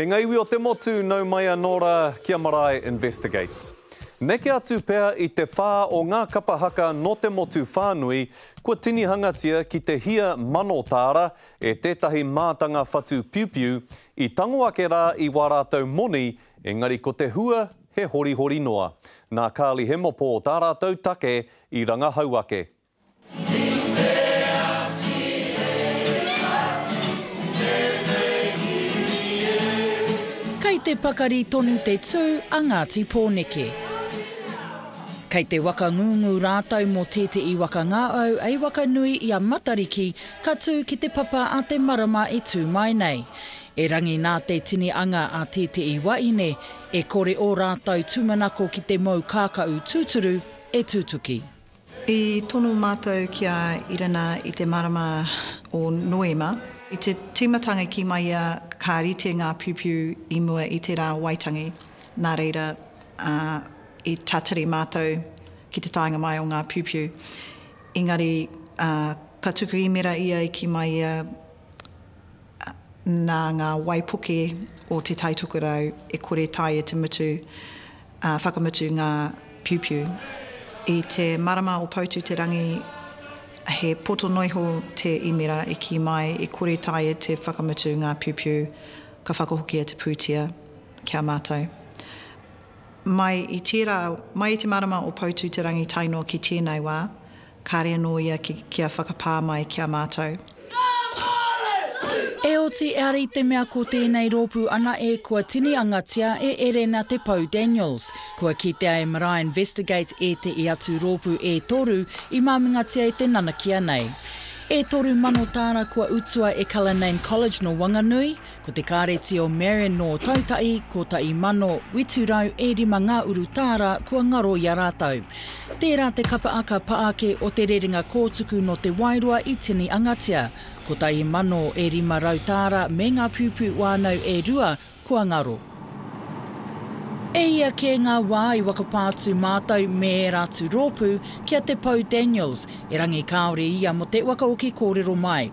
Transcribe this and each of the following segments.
E ngā iwi o te motu, nau mai anō rā ki a Marae Investigates. Neke atu pea i te whā o ngā kapa haka nō te motu whānui, kua tinihangatia ki te hia mano tāra e tētahi mātanga whatu piupiu, i tango ake rā i wā rātou moni, engari ko te hua he horihori noa. Nā Carly Hemopō tā rātou take i rangahau ake. Kei te pakari tonu te tū a Ngāti Pōneke. Kei te waka ngūngū rātou mō tēteʻi waka ngāau ei waka nui i a Matariki ka tū ki te papa a te marama e tū mai nei. Erangi nā te tini anga a tēteʻi waʻine, e kore ō rātou tūmanako ki te mou kākaʻu tūturu e tutuki. I tono mātou ki a Irena i te marama o Noema, i te tīmatanga kī mai ia ka rite ngā piupiu i mua i tērā Waitangi, nā reira, i tatari mātou ki te taenga mai o ngā piupiu. Engari, ka tuku īmera ia i kī mai ia, nā ngā waipuke o Te Tai Tokerau e kore tae e te mutu, ā, whakamutu ngā piupiu. I te marama o Poutu-te-rangi, he poto noa iho te īmera e kī mai e kore tae e te whakamutu ngā piupiu, ka whakahokia te pūtea ki a mātou. Mai i tērā, mai i te marama o Poutu-te-rangi tae noa ki tēnei wā, Kāre anō ia ki, kia whakapā mai ki a mātou. E oti eara i te mea ko tēnei rōpū anae kua tiniangatia e Erena Te Pou Daniels. Kua kitea e Marae Investigates ētehi atu rōpū e toru i māmingatia e te nanakia nei. E toru mano tāra kua utua e Cullinane College nō Wanganui, Ko te kāreti o Marion nō Taitahi, 1805 ngā urutā rā kua ngaro i a rātou. Tērā te kapa aka pa ake o te rerenga kōtuku nō te wairua i tini angatia, 1500 tāra me ngā pūpū wānau e rua kua ngaro. E ia kē ngā wā i wakapā atu mātou me ērā atu rōpū ki a Te Pou Daniels, erangi kāore ia mō te waka oki kōrero mai.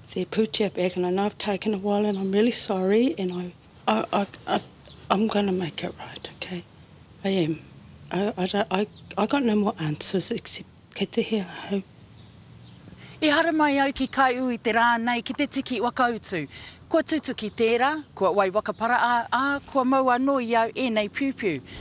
They're put you back and I know I've taken a while and I'm really sorry and I, I, I, I, I'm going to make it right, okay? I am. I, I, don't, I, I got no more answers except kei te hea ahau. I haere mai au ki Kaiu i te rā nei ki te tiki wakautu. Kua tutuki tērā, kua wai wakaparaa, ā, kua mau anō i au ēnei piupiu.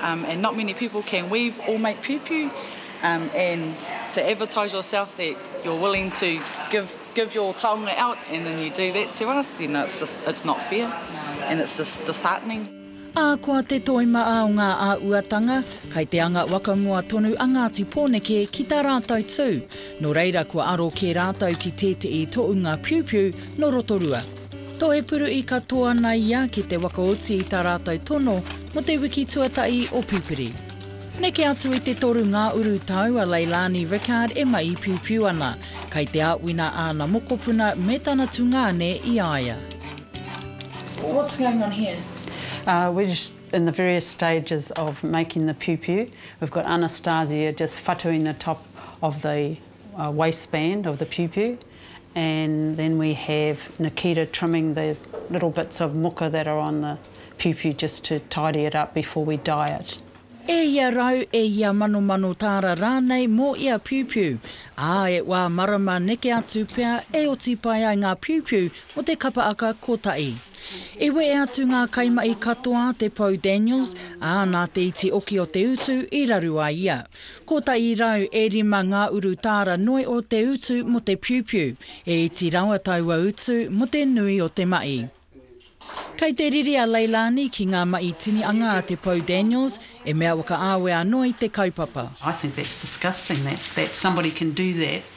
Um, and not many people can weave or make piupiu, um, and to advertise yourself that you're willing to give give your taonga out, and then you do that to us, you know, it's just it's not fair, and it's just disheartening. Ahakoa te toi ma o ngā āuatanga, kai te anga wakamua tonu a Ngāti Pōneke ki tā rātou tū, nō reira kua aro kē rātou ki tētehi toʻunga piupiu nō Rotorua. Tohepuru i katoa naia ki te wakaoti i ta ratou tono mo te wiki tuata'i o Pipiri. Neke atu i te toru nga uru tau a Leilani Rickard e maipiupiu ana, kai te aawina aana mokopuna me tana tungane i aia. What's going on here? Ahh we're just in the various stages of making the piupiu, we've got Anastasia just whatuing the top of the waistband of the piupiu and then we have Nikita trimming the little bits of muka that are on the piupiu just to tidy it up before we dye it. E ia rau, e ia manomano tāra rānei mō ia piupiu, ā, e wā marama neke atu pea e oti pai ai ngā piupiu mō te kapa aka kotahi. I wehe atu ngā kaimahi katoa te pou Daniels, ā, nā te iti oki o te utu i raru a ia. Kotahi rau e rima ngā urutara noi o te utu mō te piupiu, e iti rawa taua utu mō te nui o te maʻi. Kei te riri a Leilani ki ngā maʻi tini anga a Te Pou Daniels, e mea whakaawe anō i te kaupapa. I think that's disgusting that that somebody can do that.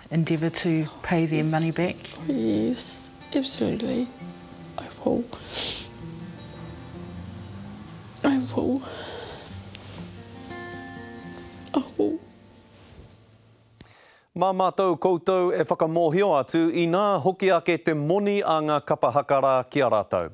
endeavour to pay their money back? Yes, absolutely, I will. I will. I will. Mā mātou koutou e whakamōhio atu inā hoki ake te moni a ngā kapa haka rā ki a rātou.